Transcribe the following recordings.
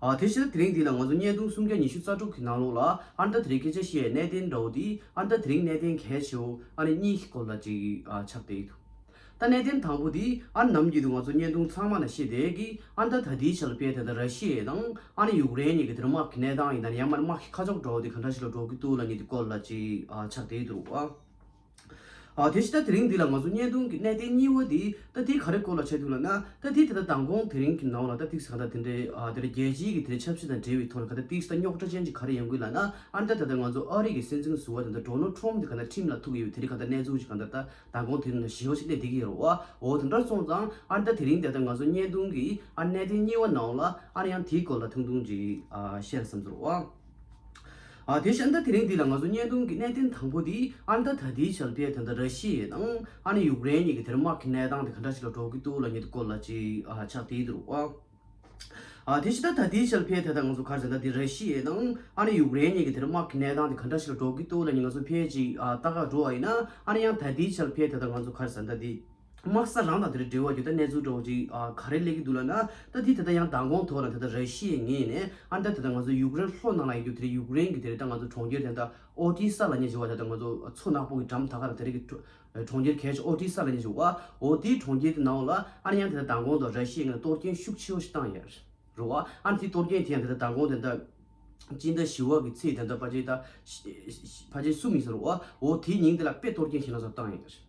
དེ་ཕྱིར་དེ་རིང་འདི་ལ་ང་ཚོ་བརྙན་ཐུང་སུམ་བརྒྱ་ཉི་ཤུ་རྩ་དྲུག་གི་ནང་ལོགས་ལ་ཨར་འདམ་དེ་རིང་སྐད་ཆ་བཤད་གནད་དེ་འདྲ་བོ་འདི་ཨར་འདམ་དེ་རིང་གནད་དེ་གལ་ཆེ་བོ་ཨ་ནི་གཉིས་ཀྱི་སྐོར་ལ་ཅིག་ཆ་བལྟས་ཡོད། ད་གནད་དེ་དང་པོ་འདི་ཨར་འདམ་གྱི་འདུག་ང་ཚོ་བརྙན་ཐུང་ཚང་མ་ལ་ཤེས་དེ་གི་ཨར་འདམ་ད་དེའི་ཆ་ལ་དཔེ་དེ་ད་ར་ཤི་ཡའི་དང་ཨ་ནི་ཡུག་རེན་གཉིས་གི་དེར་དམག་གི་གནས་སྟངས་ཡིན་ད་ནི་ཡང་མ་ནི་དམག་གི་ཁ་ཕྱོགས་འདྲ་བོ་འདི་ག་འདྲ་ཞིག་ལ་འགྲོ་གི་འདུག་ལ་གཉིས་འདི་སྐོར་ལ་ཅིག་ཆ་བལྟས་དུ་རུག་ཨ། ཨ། དེ་བཞིན་ད་རིང་འདི་ལ་ང་ཚོ་བརྙན་ཐུང་གི་གནས་བརྟན་གཉིས་བོ་འདི་རྟ་ཐིག་ག་རེ་སྐོར་ལ་བྱས་འདུག་ལ་ན་རྟ་ཐིག་དེ་དག་དང་གོང་དེ་རིང་གི་ནང་ལ་རྟ་ཐིག་ཟེར་ག་འདྲ་དེ་འདྲའི་ཨ་དེ་རེ་རྒྱལ་སྤྱིའི་གི་དེ་རེ་ཆབ་སྲིད་དང་འབྲེལ་བའི་ཐོག་ལ་ག་དེ་ཐིག་ཟེར་ད་རྙོག་དྲ་ཅན་གྱི་ག་རེ་ཡོང་གི་ལ་ན་ཨ་འདྲ་ད་ད་ང་ཚོ་ཨ་རིག་གི་སྲིད་འཛིན་ཟུར་བ་དེ་འདྲ་འགྲོ་ནོར་ཁྲོམ་དེ་ག་འདྲ་ཁྲིམས་ལ་ཐུག་གི་ཡོད་དེ་རེ་ག་འདྲ་གནས་ཚུལ་ཅིག་ག་འདྲ་ད་དང་གོང་དེ་རིང་ན་ཞེའོ་ཅིག་སླེབས་བསྡད་གི་ཡོད་རོ་ཨ་འོ་དེ་འདྲ་སོང་ཙང་ཨ་ད་དེ་རིང་འདི་ལྟར་ང་ཚོ་བརྙན་ཐུང་གི་ཨ་གནས་བརྟན་གཉིས་བོ་ནང་ལ་ཨ་ཡང་དེའི་སྐོར་ལ་ཐུང་ཐུང་ཅིག་ཨ་བཤད་ལ་བསམ་ཚོར་བ། ཨ་དེ་ཤ་འདྲ་དེ་རིང་འདི་ལ་ང་ཚོ་བརྙན་ཐུང་གི་གནད་དོན་དང་པོ་དེ་ཨ་མདའ་ད་དེའི་ཆལ་པས་དེ་འདྲ་ར་ཤི་ཡའི་དང་ཨ་ནི་ཡུག་རེན་གཉིས་ཀྱི་དེར་དམག་གི་གནས་སྟངས་དེ་ག་འདྲ་ཞིག་ལ་འགྲོ་གི་འདུག་ལ་ཉིད་སྐོར་ལ་ཅིག་ཆགས་དེའི་འདུག་བ། ཨ་དེ་ཤ་འདྲ་ད་དེའི་ཆལ་པས་དེ་དང་ང་ཚོ་གར་བྱས་འདྲ་དེ་ར་ཤི་ཡའི་དང་ཨ་ནི་ཡུག་རེན་གཉིས་ཀྱི་དེར་དམག་གི་གནས་སྟངས་དེ་ག་འདྲ་ཞིག་ལ་འགྲོ་གི་འདུག་ལ་ཉིད་ང་ཚོ་ཕལ་ཅིག་ཨ་ད་ག་འགྲོ་བ་ཡིན་ན་ཨ་ནི་ཡང་ད་དེའི་ཆལ་པས་དེ་དང་ང་ཚོ་གར་བྱས་འདྲ་དེ། དམག་ས་རང་དང་དེར་འབྲེལ་བ་རྒྱུ་དང་གནས་ཚུལ་དྲོ་བ་ཅིག་ག་རེ་ལས་ཀྱི་འདུག་ལབ་ན། ད་དེ་ད་ད་ཡང་མདང་དགོང་ཐོག་ན་དེ་ད་ར་ཤི་ཡའི་ངེས་ནས་ཨ་མདའ་དེ་ད་ང་ཚོ་ཡུག་རེན་ལྷོ་ནང་ལ་ཡི་རྒྱུ་དེ་རིང་ཡུག་རེན་གི་དེ་རིང་ད་ང་ཚོ་གྲོང་ཁྱེར་དེ་ད་ཨོ་ཏི་སཱ་ལ་ཉེ་ཆེ་བ་དེ་ད་ང་ཚོ་མཚོ་ནག་པོ་གི་འགྲམ་ད་ག་ར་དེ་རིང་གི་གྲོང་ཁྱེར་གལ་ཆེ་ཨོ་ཏི་སཱ་ལ་ཉེ་ཆེ་བ་ཨོ་ཏི་གྲོང་ཁྱེར་དེ་ནའོ་ལ་ཨ་ན་ཡང་དེ་ད་མདང་དགོང་དང་ར་ཤི་ཡའི་ངེས་ན་གཏོར་སྐྱོན་ཤུགས་ཆེ་བ་ཞིག་བཏང་ཡ་རུ་བ་ཨ་ན་དེ་གཏོར་སྐྱོན་དེ་ཡང་དེ་ད་མདང་དགོང་དེ་ད་སྤྱི་ཟླ་བཞི་བ་གི་ཚེས་དེ་ད་ཕ་ཆེ་ད་ཕ་ཆེ་གསུམ་ཡིན་ས་རུ་བ་ཨོ་ཏི་ཉིན་དེ་ལ་དཔེ་གཏོར་སྐྱོན་ཞེ་ན་ཟ་བཏང་ཡ་རུ།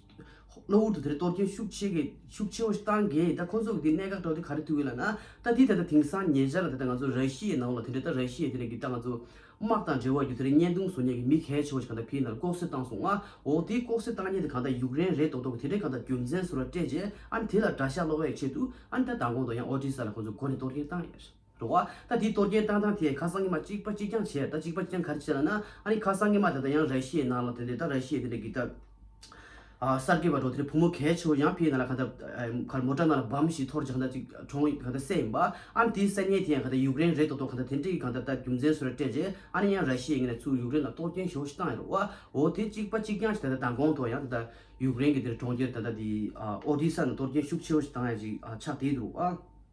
གློ་བུར་དུ་དེར་གཏོར་སྐྱོན་ཤུགས་ཆེ་གེ་ཤུགས་ཆེ་བོ་ཞིག་བཏང་གེ་ད་ཁོ་ཚོ་གི་དེ་གནད་འགག་སྒྲོག་དེ་ག་རེ་ཐུག་ཡོད་ལ་ན་ད་དེ་ད་ལྟ་དེང་སང་ཉེ་ཆར་ལ་དེ་ལྟ་ང་ཚོ་ར་ཤི་ཡའི་ནང་ལ་དེ་འདྲ་ད་ར་ཤི་ཡའི་དེ་འདྲ་གི་ད་ང་ཚོ་དམག་དང་འབྲེལ་བ་ཡོད་དེ་རིང་བརྙན་ཐུང་བཟོ་ཉན་གི་མི་གལ་ཆེ་བོ་ཞིག་ག་ད་ཕི་ནར་ལྐོག་གསོད་བཏང་སོང་ང་འོ་དེ་ལྐོག་གསོད་བཏང་ཉེན་དེ་གང་ད་ཡུག་རེན་རེད་མདོག་མདོག་གི་དེ་འདྲ་གང་ད་རྒྱུ་མཚན་ཟུར་བ་སྤྲད་རྗེས་ཨ་ནི་དེ་ལ་དགྲ་ཤ་སློག་ཡས་ཆེད་དུ་ཨ་ནི་ད་མདང་དགོང་དང་ཡང་ཨོ་ཏྲི་ས་ལ་ཁོ་ཚོ་སྒོ་ནས་གཏོར་སྐྱོན་བཏང་ཡས། འགྲོ་བ། ད་དེའི་གཏོར་རྒྱན་བཏང་སྟངས་དེ་ཁ་སང་ཉི་མ་གཅིག་པ་གཅིག་རྐྱང་བྱས་ད་གཅིག་པ་གཅིག་རྐྱང་ག་རེ་བྱས་ལ་ན་ཨ་རི་ཁ་སང་ཉི་མ་དེ་དང་ཡང་ར་ཤི་ཡའི་ནང་ལ་དེ་འདྲའི་ད་ར་ཤི་ཡའི་དེ་འདྲའི་གི་ད་གསར་སྐྱེས་པ་འགྲོ་དེ་རི་བུ་མོ་གལ་ཆེ་བོ་ཡང་ཕི་ཡའི་ནང་ལ་ག་ད་གར་མོ་ཏྲ་ནང་ལ་བམ་ཞིག་འཐོར་ཅིག་ག་ད་ཅིག་གྲོང་གི་ག་ད་སད་ཡིན་པ་ཨ་ནི་དེའི་སད་ཉལ་དེ་ཡང་ག་ད་ཡུག་རེན་རེད་དོ་དོ་ག་ད་དེ་འདྲའི་གི་ག་ད་ད་རྒྱུ་མཚན་སུ་ར་སྤྲད་རྗེས་ཨ་ནི་ཡང་ར་ཤི་ཡའི་ངེད་ནས་ཚུར་ཡུག་རེན་ལ་གཏོར་རྒྱན་ཞོ་ཞིག་བཏང་ཡ་རོ་བ་འོ་དེ་གཅིག་པ་གཅིག་རྐྱང་བྱས་ད་ད་མདང་དགོང་དུ་ཡང་དེ་ད་ཡུག་རེན་གི་དེ་རི་གྲོང་ཁྱེར་ད་ད་དེའི་ཨོ་རྡི་ས་ནང་གཏོར་རྒྱན་ཤུགས་ཆེ་བོ་ཞིག་བཏང་ཡ་ཅིག་ཆགས་དེའི་དུ་རུ་བ།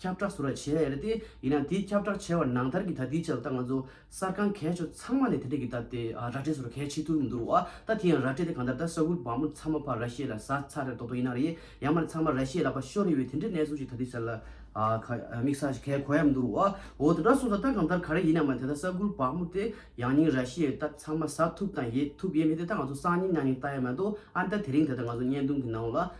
ཁྱབ་བསྒྲགས་ཟུར་བ་བྱས་ཡོད་རེད་དེ། ཡིན་ནའང་དེའི་ཁྱབ་བསྒྲགས་བྱས་བ་ནང་ལྟར་གྱི་ད་ལྟའི་ཆར་ད་ང་ཚོ་གསར་ཁང་གས་ཆོ་ཚང་མ་ནས་དེ་འབྲེལ་གྱི་ད་ལྟའི་ར་སྤྲད་ཟུར་བ་གས་བྱེད་ཐུབ་མི་འདུག་རོགས་ཨ། ད་དེ་ཡང་ར་སྤྲད་དེ་གང་ལྟར་ད་ས་ཁུལ་བང་བུ་ཚང་མ་ཕར་ར་ཤེས་ལ་ཟ་ཚར་རེད་མདོག་མདོག་ཡིན་ན་རེད། ཡང་མ་རེད་ཚང་མ་ར་ཤེས་ལ་པ་ཤོར་རེ་ཡོད་དེ་འདྲའི་གནས་ཚུལ་ཞིག་ད་ལྟའི་ཆར་ལ་དམིགས་ས་ཞིག་གས་གོ་ཡ་མི་འདུག་རོགས་ཨ། འོ་དེ་འདྲ་སོང་ས་ད་གང་ལྟར་ག་རེ་ཡིན་ན་མ་རེད་དེ་ད་ས་ཁུལ་བང་བུ་དེ་ཡང་སྙིང་ར་ཤེས་ཡོད་ད་ཚང་མ་ཟ་ཐུབ་དང་ཡས་ཐུབ་ཡས་མེད་དེ་ད་ང་ཚོ་སང་ཉིན་ཉང་ཉིན་ལྟ་ཡ་མ་གཏོགས་ཨ། ད་དེ་རིང་དེ་ད་ང་ཚོ་བརྙན་ཐུང་གི་ནང་ལ།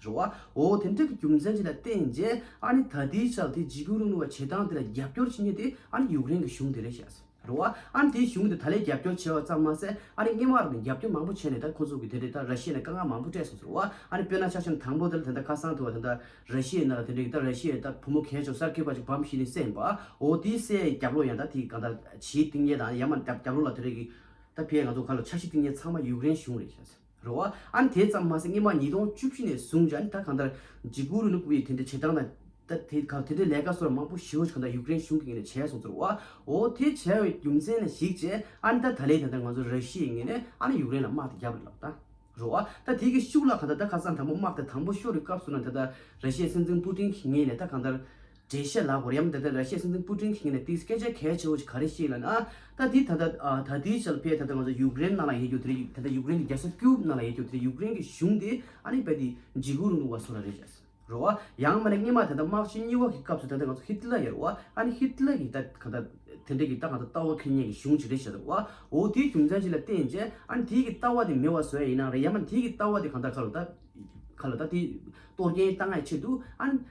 འབྱོར་བ། འོ་དེ་འབྲེལ་གྱི་རྒྱུ་མཚན་ཅི་ལ་བརྟེན་རྗེས་ཨ་ནི་ད་ལྟའི་ཆར་དེ་འཇིགས་སྐུལ་རིང་ལུགས་ལ་བྱེད་སྟངས་དེ་ལ་རྒྱབ་སྐྱོར་བྱེད་ངེས་དེ་ཨ་ནི་ཡུག་རེན་གྱི་གཞུང་དེ་རེད་བཤད། རེད་བ། ཨ་ནི་དེའི་གཞུང་དེ་ད་ལས་རྒྱབ་སྐྱོར་བྱས་བ་ཙམ་མ་ཟད་ཨ་ནི་རྔན་མ་རག་ནས་རྒྱབ་སྐྱོར་མང་པོ་བྱས་ནས་ད་ཁོ་ཚོ་གི་དེ་འདྲའི་ད་ར་ཤི་ཡའི་ནས་དཀའ་ངལ་མང་པོ་སྤྲད་སོང་ཟེར་བ། ཨ་ནི་དཔེར་ན་ཆ་ཆུང་དང་པོ་དེ་ལ་དེ་འདྲ་ཁ་སང་དུ་བ་དེ་འདྲ་ར་ཤི་ཡའི་ནང་ལ་དེ་འདྲའི་གི་ད་ར་ཤི་ཡའི་ད་བུ་མོ་གས་ཆོག་སར་ཁས་པ་ཅིག་བམ་ཤི་ནས་བསད་ཡིན་པ། འོ་དེའི་བསད་ཡའི་རྒྱབ་ལོག་ཡང་ད་དེ་གང་ད་ཇིའི་གཏིང་ཉལ་དང་ཡང་མ་རྒྱབ་ལོག་ལ་དེ་འདྲའི་གི་ད་ཕའི་ང་ཚོ་ག་ལ་ཆ་ཤི་གཏིང་ཉལ་ཚང་མ་ཡུག་རེན་གཞུང་རེད་བཤད། རེད་བ། ཨཱ་དེ་ཙམ་མ་ཟད་སྔོན་མ་ཉིས་སྟོང་བཅུ་བཞི་ནས་བཟུང་ཇཱ་ནི་ད་གང་ལྟར་ཇི་གུ་རུ་ནུ་པུའི་དེ་འདྲའི་བྱེད་སྟངས་དང། ད་དེ་གང་དེ་འདྲའི་ལས་ཀ་སོགས་མང་པོ་ཞི་ཧོ་ཇི་གང་ལྟར་ཡུཀ་རེན་གཞུང་གི་ངོས་ནས་བྱས་སོང་ཚོར་བ། འོ་དེ་བྱས་བའི་རྒྱུ་མཚན་ནི་ཞིག་ཅེས་ཨཱ་ནི་ད་ད་ལེ་ད་ལྟ་ང་ཚོ་ར་ཤི་ཡའི་ངོས་ནས་ཨཱ་ནི་ཡུཀ་རེན་ལ་དམག་དེ་རྒྱབ་རེད་ལབ་ད། རེད་བ། ད་དེ་གི་ཤུགས་ལ་གང་ལྟར་ད་ཁ་སང་དང་པོ་དམག་དེ་དང་པོ་ཤོར་བའི་སྐབས་སུ་ན་ད་ད་ར་ཤི་ཡའི་སྲིད་འཛིན་པུ་ཏིན་གྱི་ངོས་ནས་ད་གང་ལྟར་འགྲེལ་བཤད་ལགས་གོ་རིམ་ད་ལྟ་ར་ཤི་ཡའི་སྲིད་འཛིན་པུ་ཀྲིན་གྱིས་ངེད་ལ་དེའི་སྐད་ཆ་གལ་ཆེ་བོ་ཞིག་ག་རེ་ཤེས་ལ་ན། ད་དེའི་ད་ད་ད་དེའི་ཆ་ལ་ཕེབས་ད་ད་ང་ཚོ་ཡུཀ་རེན་ནང་ལ་ཡེ་རྒྱུ་དེ་རེད་ད་ད་ཡུཀ་རེན་གྱི་རྒྱལ་ས་ཀིའུབ་ནང་ལ་ཡེ་རྒྱུ་དེ་རེད་ཡུཀ་རེན་གྱི་གཞུང་དེ་ཨ་རི་བས་དེ་འཇིགས་སྐུལ་རུ་འདུག་བ་སོགས་ར་རེད་བྱས་སོ། རོ་ཨ། ཡང་མ་ནི་སྔེན་མ་ད་ད་དམག་ཆེན་གཉིས་བ་གི་སྐབས་སུ་ད་ད་ང་ཚོ་ཧི་ཏི་ལ་ཡར་རོ་ཨ་ཨ་ནི་ཧི་ཏི་ལ་གྱི་ད་གང་ད་དེ་འདྲ་གི་ད་གང་ད་ལྟ་བ་ཁེ་ཉེན་གྱི་གཞུང་ཅིག་རེད་བྱས་སོ་རོ་ཨ་འོ་དེའི་རྒྱུ་མཚན་ཅི་ལ་བརྟེན་རྗེས་ཨ་ནི་དེའི་གི་ལྟ་བ་དེ་མེད་བ་བཟོས་ཡིན་ནའང་རེད་ཡང་མ་ནི་དེའི་གི་ལྟ་བ་དེ་གང་ད་ག་ལ་ད་ག་ལ་ད་དེ་གཏོར་རྐྱེན་གཏང་ཡའི་ཆེད་དུ་ཨ་ནི།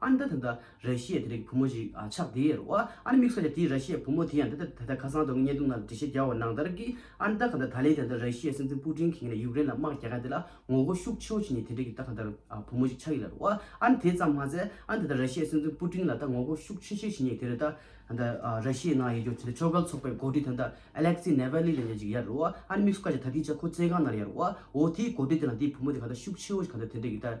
ཨ་ནི་ད་ད་ད་རེ་ཤི་ཡའི་དེ་རིགས་བུ་མོ་ཞིག་ཆགས་དེ་རེད་བ། ཨ་ནི་མིག་སོ་ཡ་དེའི་ར་ཤི་ཡའི་བུ་མོ་དེ་ཡང་ད་ད་ད་ད་ཁ་སང་དོན་དངོས་བརྙན་ཐུང་ནང་འབྲི་བཤད་རྒྱག་བ་ནང་ལྟར་གི་ཨ་ནི་ད་ག་ད་ད་ལེའི་དེ་ད་ད་ར་ཤི་ཡའི་སྲིད་འཛིན་པུ་ཀྲིན་གིས་ངས་ཡུཀ་རེན་ལ་དམག་རྒྱག་མཁན་དེ་ལ་ངོ་རྒོལ་ཤུགས་ཆེན་པོ་བྱེད་ཉེ་དེ་འདྲས་ཀི་ད་ག་ད་བུ་མོ་ཞིག་ཆགས་ཡོད་རེད་བ། ཨ་ནི་དེ་ཙམ་མ་ཟད་ཨ་ནི་ད་ད་ར་ཤི་ཡའི་སྲིད་འཛིན་པུ་ཀྲིན་ལ་ད་ངོ་རྒོལ་ཤུགས་ཆེ་ཆེ་བྱེད་ཉེ་དེ་རེད་ད་ད་ར་ཤི་ཡའི་ནང་ཡོད་རྒྱུ་ཚོད་དེ་ཕྱོགས་འགལ་ཚོགས་པའི་འགོ་ཁྲིད་དེ་ད་ཨེ་ལེག་སི་ནེ་ཝེ་ལི་ལེ་ཉེ་ཅིག་ཡ་རེད་བ། ཨ་ནི་མིག་སོ་ཀ་ཅིག་ད་དེའི་ཆ་ཁོ་བཙན་ཁང་ནང་ཡ་རེད་བ། འོ་དེའི་འགོ་ཁྲིད་དེ་དང་དེའི་བུ་མོ་དེ་ག་ད་ཤུགས་ཆེ་བོ་ཞིག་ག་ད་དེ་འདྲས་ཀི་ད་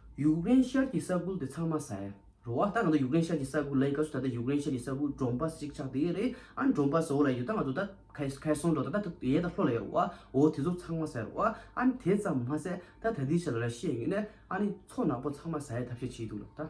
ཡུཀ་རེན་ཤར་གྱི་ས་ཁུལ་དེ་ཚང་མ་ཟ་ཡ་རོ་ཨ་ད་ང་ཚོ་ཡུཀ་རེན་ཤར་གྱི་ས་ཁུལ་ལ་ཡིན་སྐབས་སུ་ད་ལྟ་ཡུཀ་རེན་ཤར་གྱི་ས་ཁུལ་འབྲོང་པ་ཞིག་ཆགས་བསྡད་ཡོད་རེད་ཨ་འབྲོང་པ་ཟོ་ལ་ཡོད་ད་ང་ཚོ་ད་ཁེ་ཁེ་སོང་འགྲོ་ད་ད་ད་ཡས་ད་ལྷོ་ལ་ཡོད་རོ་ཨ་འོ་དེ་ཚོ་ཚང་མ་ཟ་ཡ་རོ་ཨ་ཨ་ནི་དེ་ཙམ་མ་ཟད་ད་ད་ལྟའི་ཆར་ར་ཤི་ཡའི་ངོས་ནས་ཨ་ནི་མཚོ་ནག་པོ་ཚང་མ་ཟ་ཡའི་ཐབས་ཤེས་བྱེད་ཀྱི་འདུག་ལ་ད།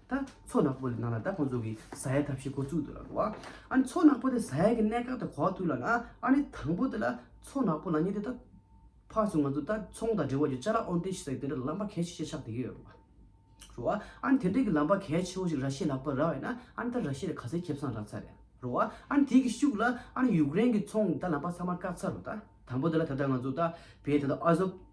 ད་མཚོ་ནག་པོ་ལས་ནང་ལ་ད་ཁོང་ཚོ་གི་ཟ་ཡ་ཐབས་ཤེས་འཁོར་བཙུགས་འདུག་ལ་འགྲོ་བ། ཨ་ནི་མཚོ་ནག་པོ་དེ་ཟ་ཡ་གི་གནས་སྐབས་དེ་གོ་ཐུབ་ལ་ན་ཨ་ནི་དང་པོ་དེ་ལ་མཚོ་ནག་པོ་ལ་ཉེ་དེ་ད། ཕར་སོང་ང་ཚོ་ད་ཚོང་དང་འབྲེལ་བ་ཡོད་ཅཱ་ལ་ཨོན་ཏེ་ཞེས་ཟེར་གི་དེ་འདྲ་ལམ་པ་གལ་ཆེ་ཆེ་ཆགས་བསྡད་ཀྱི་ཡོད་རེད། རེད་བ། ཨ་ནི་དེ་འདྲ་གི་ལམ་པ་གལ་ཆེ་བོ་ཞིག་ར་ཤི་ཡས་ལག་པར་རག་ཡོད་ན་ཨ་ནི་ད་ར་ཤི་ཡས་ལ་ག་ཚད་ཁེབས་སང་རག་ཚར་རེད། རེད་བ། ཨ་ནི་དེ་གི་ཤུགས་ལ་ཨ་ནི་ཡུཀ་རེན་གི་ཚོང་ད་ལམ་པ་ཚང་མ་བཀག་ཚར་རོ་ད། དང་པོ་དེ་ལ་ད་ད་ང་ཚོ་ད་བེད་དེ་ད་ཨ་ཟོབ།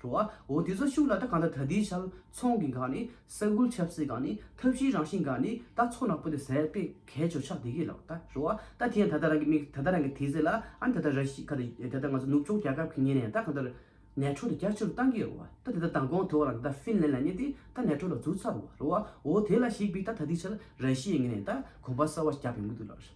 འགྲོ་བ་འོ་དེ་ཚོ་ཤུགས་ལ་ད་གང་ལྟར་ད་དེའི་ཆལ་ཚོང་གི་འགག་ནི་ས་ཁུལ་ཆབ་སྲིད་འགག་ནི་ཐབས་ཤེའི་རང་བཞིན་འགག་ནི་ད་ཚོ་ནག་པོ་དེ་ཟད་པའི་གས་ཆོ་ཆག་དེ་གས་ལགས་ད་འགྲོ་བ་ད་དེ་ཡང་ད་ད་རང་གི་མིག་ད་ད་རང་གི་དེ་ཟེ་ལ་ཨ་ནི་ད་ད་ར་ཤི་ཁ་ད་ད་ང་ཚོ་ནུབ་ཕྱོགས་རྒྱ་ཁབ་གི་ཉེ་ནས་ད་གང་ལྟར་ནད་ཁྲོ་དེ་རྒྱ་ཆེ་རུ་བཏང་གིས་རོ་བ་ད་དེ་ད་དང་གོང་དེ་བ་རང་ད་ཧྥིན་ལན་ལ་ཉེ་དེ་ད་ནད་ཁྲོ་ལ་འཛུགས་ཚར་བ་རོ་བ་འོ་དེ་ལ་ཞིག་པའི་ད་ད་དེའི་ཆལ་ར་ཤི་ཡེ་ངེ་ནས་ད་གོམ་པ་གསར་བ་རྒྱབ་ཡོང་གི་འདུག་ལགས།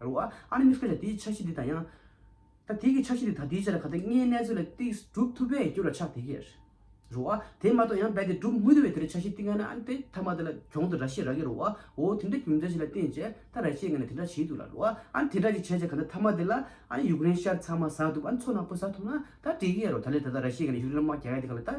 རུང་བ། ཨཱ་ནི་མི་སྐྱོན་ལ་དེའི་འཆར་གཞི་འདི་དང་ཡང། ད་དེ་གི་འཆར་གཞི་འདི་དང་དེའི་ཆ་ལ་ག་དེ་ལྔའི་གནས་ཚོད་ལ་ཏིག་གྲུབ་ཐུབ་པས་སྐྱོན་ལ་ཆགས་དེ་ཀའི། རུང་བ། དེ་མ་གཏོགས་ཡང་རྦད་དེ་གྲུབ་མི་ཐུབ་པས་དེར་འཆར་གཞི་ཏིག་ལྔ་ནི་ཨཱ་ནི་དེ་ཐ་མ་དེ་ལ་གྱོང་དུ་ར་ཤེས་ར་ཀའི་རུང་བའོ། དེ་འདྲ་གྱོང་འཆར་གཞི་ལ་བརྟེན་བྱས་ད་ར་ཤེས་ལྔ་ནི་དེ་འདྲ་བྱེད་ཐུབ་ལ་རུང་བ། ཨཱ་ནི་དེ་འདྲ་ཅིག་བྱས་བྱས་ག་དེ་ཐ་མ་དེ་ལ་ཨཱ་ནི་ཡུག་རན་ཤར་ཚང་མ་ཟགས་ཐུབ་ཨཱ་ནི་མཚོ་ནག་པོ་ཟགས་ཐུབ་ན་ད་དེ་ཀའི་རུང་ད་ལས་ད་ད་ར་ཤེས་ལྔ་ནི་ཡུག་རན་དམག་རྒྱ་ཡ་དེ་ག་ལ་ད།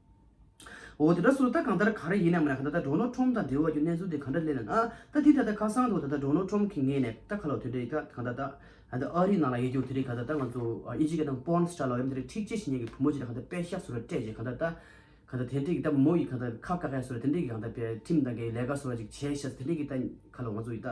འོ་དེ་དག་སུ་ད་གང་ལྟར་ག་རེ་ཡིན་ནམ་ད་ལྟ་འབྲོག་ནོར་ཁྲོམ་དང་འབྲེལ་བ་ཀྱི་གནས་ཚུལ་དེ་གང་འདྲ་གླེང་ན་ན་ད་དེ་ད་ལྟ་ཁ་སང་དུ་ད་ལྟ་འབྲོག་ནོར་ཁྲོམ་གྱི་ངེད་ནས་ད་ཁ་ལོ་དེ་རེད་ད་གང་ད་ད་ད་ད་ཨ་རི་ནང་ལ་ཡེ་རྒྱུར་དེ་རེད་གང་ད་ད་ང་ཚོ་ཨི་ཇི་ཀ་དང་པོར་ན་སི་ཏྲ་ལ་ཡོད་མི་དེ་རེད་ཁྲིག་ཆེ་ཞིག་ཉན་གི་བུ་མོ་ཅིག་ད་གང་ད་དཔེ་ཤག་སུ་ར་སྤྲད་རྗེས་གང་ད་ད་གང་ད་དེ་འདྲས་ཀྱི་ད་བུ་མོ་ཡིས་གང་ད་ཁ་བཀག་ཁས་སུ་ར་དེ་འདྲས་ཀྱི་གང་ད་པའི་ཁྲིམས་དང་གི་ལས་ཀ་སུ་ར་ཅིག་བྱས་ཤག་ད་དེ་འདྲས་ཀྱི་ད་ཁ་ལོ་ང་ཚོ་ཡི་ད།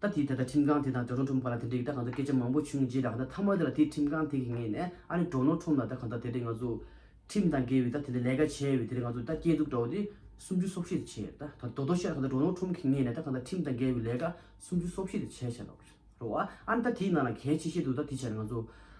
ད་དེས་ད་ལྟ་ཁྲིམས་ཁང་དེ་དང་དྲ་གྲོགས་འཁྲུངས་པ་ལ་དེ་འདྲའི་གི་ད་གང་ཚོད་སྐད་ཆ་མང་པོ་བྱུང་རྗེས་ད་གང་ད་ཐ་མ་དེ་ལ་དེས་ཁྲིམས་ཁང་དེ་གི་ངེས་ནས་ཨ་ནི་གྲོགས་ནོར་ཁྲོམ་ལ་ད་གང་ད་དེ་འདྲའི་ང་ཚོ། ཁྲིམས་དང་འགལ་བའི་ད་དེ་འདྲའི་ལས་ཀ་བྱས་བའི་དེ་འདྲའི་ང་ཚོ་ད་སྐྱེས་འཛུགས་འདྲ་བོ་དེ་སུམ་ཅུ་སོ་བཞི་དེ་བྱས་ད་ད་དོ་དོ་ཤེས་ད་གང་ད་གྲོགས་ནོར་ཁྲོམ་གི་ངེས་ནས་ད་གང་ད་ཁྲིམས་དང་འགལ་བའི་ལས་ཀ་སུམ་ཅུ་སོ་བཞི་དེ་བྱས་བྱས་ལོག་རོགས་ཨ་ཨ་ནི་ད་དེའི་ནང་ལ་གལ་ཆེ་ཤེས་འདུག་ད་དེ་བྱས་ན་ང་ཚོ་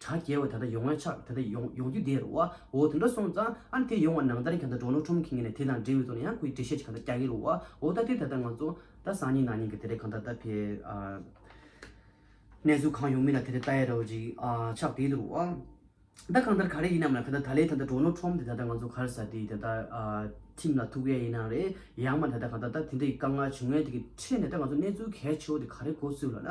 གྲགས་རྒྱལ་བས་ད་ལྟ་ཡོང་ཨ་ཆགས་དེ་ལྟ་ཡོང་ཡོང་རྒྱུ་དེར་བ་འོ་དེ་འདྲ་སོང་ཙང་ཨ་དེ་ཡོང་བ་ནང་ལྟར་གྱང་ད་འགྲོ་ནོ་ཁྲོམ་གིང་ནས་དེ་དང་འབྲེལ་བའི་ཚོགས་ནས་ཡང་ཁོའི་འགྲེལ་བཤད་ཅིག་གང་ད་རྒྱག་གི་རུ་བ་འོ་ད་དེ་ད་ད་ང་ཚོ་ད་སང་ཉིན་ནང་ཉིན་གྱི་དེ་རེད་གང་ད་ད་ཕེ་ཨ་གནས་ཚུལ་གང་ཡོང་མིན་ལ་དེ་རེད་ད་ཡ་རོ་རིག་ཨ་ཆགས་དེ་ལྟ་རུ་བ་ད་གང་ལྟར་ག་རེ་ཡིན་ནམ་ལ་གང་ད་ད་ལས་ད་ད་འགྲོ་ནོ་ཁྲོམ་དེ་ད་ད་ང་ཚོ་གར་ས་དེ་ད་ད་ཨ་ཁྲིམས་ལ་ཐུག་གཡ་ཡིན་ནང་རེད་ཡང་མ་ད་ད་གང་ད་ད་དེ་འདྲའི་དཀའ་ངལ་བྱུང་ཡ་དེ་གི་ཁྲེད་ནས་ད་ང་ཚོ་གནས་ཚུལ་གལ་ཆེ་བོ་དེ་ག་རེ་གོ་ཚུལ་ལ་ན།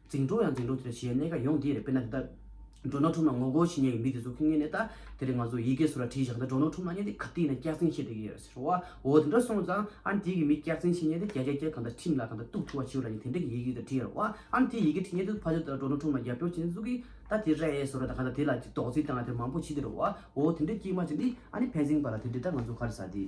འཛིང་འཁྲུག་ཡང་འཛིང་འཁྲུག་དེ་ལ་ཞི་ཡའི་གནད་ཀ་ཡོང་དེ་རེད་དཔེར་ན་དེ་ལྟར། འགྲོ་ནག་ཁྲོམ་ན་ངོ་རྒོལ་བྱེད་ཉེ་བའི་མི་དེ་ཚོ་ཁེངས་ངེས་ནས་ད་དེ་རིང་ང་ཚོ་ཡི་གེ་སོ་ར་བྲིས་བཞག་ད་འགྲོ་ནག་ཁྲོམ་ན་གཉེན་སྟེགས་ག་དེའི་ནང་སྐྱག་རྫིང་བཤད་དེ་ཡོད་ཟེར་བ་འོ་དེ་འདྲ་སོང་ཙང་ཨ་ནི་དེའི་གི་མི་སྐྱག་རྫིང་བཤད་ཉེན་དེ་རྒྱ་རྒྱ་རྒྱ་གང་ད་ཁྲིམས་ལ་གང་ད་གཏུག་ཐུ་བ་བྱིའུ་ལ་ཉིན་དེ་འདྲ་གི་ཡི་གེ་ད་བྲིས་ཡོད་ར་བ་ཨ་ནི་དེའི་ཡི་གེ་བྲིས་ཉེན་དེ་ཚོ་ཕ་ཆོས་ད་འགྲོ་ནག་ཁྲོམ་ན་རྒྱབ་སྐྱོར་བྱེད་ནི་ཟུག་གི་ད་དེ་ར་ཡའི་སོ་ར་ད་གང་ད་དེ་ལ་ཅིག་དོགས་ཟིན་བཏང་ན་དེ་མང་པོ་བྱེད་དེ་ར་བ་འོ་དེ་འདྲ་སྐྱིད་མ་བྱེད་འདི་ཨ་ནི་ཕན་ཚིན་པ་ལ་དེ་འདི་ད་ང་ཚོ་ག་རེ་ཟ་དེ།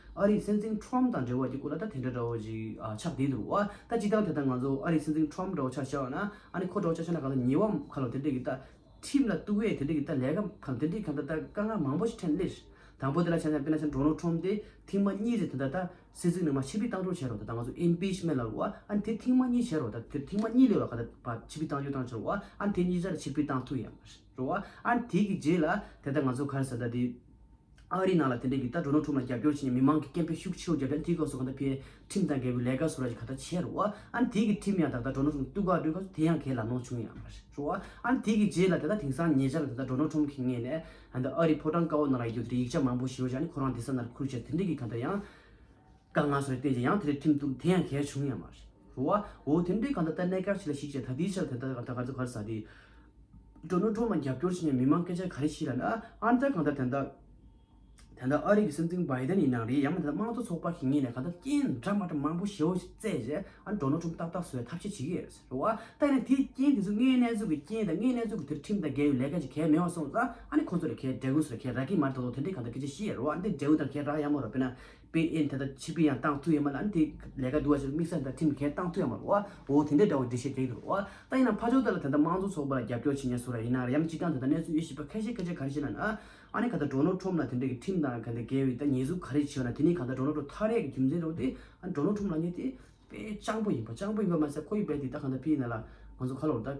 ཨ་རིའི་སྲིད་འཛིན་ཁྲོམ་དང་འབྲེལ་བ་ཀྱི་སྐོར་ལ་ད་དེ་འདྲ་འདྲ་བོ་ཅིག་ཆགས་བསྡད་འདུག་ཨ་ད་ཅི་སྟངས་དེ་ལྟར་ང་ཚོ་ཨ་རིའི་སྲིད་འཛིན་ཁྲོམ་འདྲ་བོ་ཆགས་ཤག་ན་ཨ་ནི་ཁོ་འདྲ་བོ་ཆགས་ཤག་ན་ག་ལ་ཉེས་བམ་ག་ལ་དེ་འདྲས་ཀྱི་ད་ཁྲིམས་ལ་གཏུགས་བས་དེ་འདྲས་ཀྱི་ད་ལས་ཀ་གམ་དེ་འདྲས་གམ་ད་ད་དཀའ་ངལ་མང་བོ་ཞིག་འཕྲད་ལེར། དང་པོ་དེ་ལ་ཆ་ཆ་དཔེར་ན་ཆ་འདྲོ་ནོར་ཁྲོམ་དེ་ཐིང་མ་གཉིས་རེད་དེ་ད་ད་སྲིད་འཛིན་ནང་མ་ཕྱི་ཕི་ཏང་འདྲོ་བྱས་རོགས་ད་ད་ང་ཚོ Impeachment ལ་རོགས་ཨ་ནི་དེ་ཐིང་མ་གཉིས་བྱས་རོགས་ད་དེ་ཐིང་མ་གཉིས་ལས་རོགས་ག་ད་ཕྱི་ཕི་ཏང་འཇོག་ཏང་བྱས་རོགས་ཨ་ནི་དེ་གཉིས་ཅར་ཕྱི་ཕི་ཏང་ཐུག་ཡ་མ་རེད། འགྲོ་བ། ཨཱ། དེ་གི་རྗེས་ལ། དེ་ལྟར་ང་ཚོ་ཁར་ས་ད་དེ། ཨ་རིའི་ནང་ལ་དེ་འདྲའི་གི་ལྟ་གྲུ་ནོར་འཁྲུག་ལ་རྒྱབ་སྐྱོར་བྱེད་མཁན་མི་མང་གི་སྐད་འཕེལ་ཤུགས་ཆེ་རུ་བརྒྱབ་ཀྱང་དེའི་སྐབས་སུ་གང་ལྟར་ཕེ། ཁྲིམས་དང་འགལ་བའི་ལས་ཀ་སུ་ར་ཞིག་ག་ལྟར་བྱས་རོ། ཨཱ། དེ་གི་ཁྲིམས་ཡང་དག་ད་གྲོ་ནོར་འཁྲུག་གཏུག་ག་འགྲོས་ག་དེ་ཡང་གས་ལ་ནོར་བྱུང་ཡང། འགྲོ་བ། ཨཱ། དེ་གི་རྗེས་ལ་དེ་ལྟར་དེང་སང་ཉེ་ཆར་ལ་དེ་ལྟར་གྲོ་ནོར་འཁྲུག་གི་ངེས་ནས། ཨཱ། ཨ་རིའི་ཕོ་བྲང་དཀར་བོ་ནང་ལ་ཡོད་དེ་ཡིག་ཆ་མང་པོ་ཞིག་ཡོད་ཀྱང་ནི་ཁོ་རང་དེ་ས་ནར་ཁུར་བྱས་ཏེ་དེ་འདྲའི་གི་ག་ལྟར་ཡང། དཀའ་ངལ་སོགས་བསྟན་ཅིང་ཡང་དེ་རིགས་ཁྲིམས་གཏུགས་དེ་ཡང་གལ་བྱུང་ཡང་མ་རེད། འོ་འོ་དེ་འདྲའི་གང་ད་ལྟ་གནད་འགག་ཅིག་ལ་གཞིགས་བྱས་ད་ལྟའི་ཆར་དེ་ལྟར་གང་ད་ག་ཚོད་ག་རེ་ཟ་དེ། འགྲོ་ནུ་འགྲོ་མ་རྒྱབ་སྐྱོར་བྱེད་མཁན་མི་མང་སྐད་ཆ་ག་རེ་བཤད་ལ་ནི་ཨ་ཨ་འདྲ་གང་ད་དེ་འདྲ། དེ་འདྲ་ཨ་རིག་གི་སྲིད་འཛིན་བྷའི་ཏན་ཡིན་ནའང་རེད་ཡང་མ་དེ་འདྲ་དམངས་གཙོ་ཚོགས་པ་གིས་ངེད་ནས་གང་ད་རྐྱེན་འདྲ་མ་འདྲ་མང་པོ་ཞེ་བོ་ཞིག་བཙལ་རྗེས་ཨ་འགྲོ་ནུ་ཁྲོམ་ཏག་ཏག་བཟོ་བའི་ཐབས་ཤེས་བྱེད་ཀྱི་རེད་ཟེར། འོ་ཨ་ད་ནི་དེ་རྐྱེན་དེ་ཚོ་ངའི་གནས་ཚུལ་གྱི་རྐྱེན་དང་ངའི་གནས་ཚུལ་གྱི་དེར་ཁྲིམས་དང་འགལ་བའི་ལས་ཀ་ཅིག་གལ་མེད་བ་སོང་ཙང་ཨ་ནི་ཁོང་ཚོ་ལ་གལ་འགྲེལ་དགོས་སུ་ལ་གལ་རག་གིན་མ་རེད་ད་དུང་དེ་འདྲའི་གང་ད་སྐད་ཆ་བཤད་ཡ་རོ་ཨ་འདི་འགྲེལ་འོས་དང་གལ་རག་ཡ་མ་རོ་དཔེར་ན། པའི་ཨེ་དེ་དང་བྱིས་པའི་ཡང་ཏང་ཙུའུ་ཡང་མ་ལ་ནི་དེ་ལས་ཀ་འདུལ་བ་ཞིག་ལ་དམིགས་བསལ་དང་ཁྲིམས་འགལ་ཏང་ཙུའུ་ཡང་མ་རོ་འོ་དེ་འདྲའི་འདྲ་བོ་འདི་བྱེད་དེ་འདྲ་བོ་ད་ཡིན་ན་ཕ་ཇོ་དེ་ལ་དེ་ད་དམངས་གཙོ་ཚོགས་པ་ལ་རྒྱབ་སྐྱོར་བྱེད་ཉེན་བཟོ་ར་ཡིན་ན་ར་ཡམ་ཅི་ཀྱང་དེ་ད་གནས་ཚུལ་ཡོད་ཤེས་པ་ཁ་ཤས་ཁ་ཤས་ག་རེ་བྱེད་ན་ན་ཨ་ནི་ག་ད་གྲོ་ནོར་ཁྲོམ་ལ་དེ་འདྲའི་གི་ཁྲིམས་དང་ག་ད་འགལ་བའི་ད་ཉེས་གཟུགས་ག་རེ་བྱེད་ན་དེ་ནི་ག་ད་གྲོ་ནོར་ཁྲོ་ཐ་རས་གི་རྒྱུ་མཚན་རེད་བ་དེ་ཨ་ནི་གྲོ་ནོར་ཁྲོམ་ལ་ཉེ་དེ་དཔེ་སྤྱང་པོ་ཡིན་པ་སྤྱང་པོ་ཡིན་པ་མ་ཟད་ཁོ་ཡི་བས་དེ་ད་ག་ད་ཕི་ཡི་ན་ལ་ང་ཚོ་ཁ་ལོར་ད།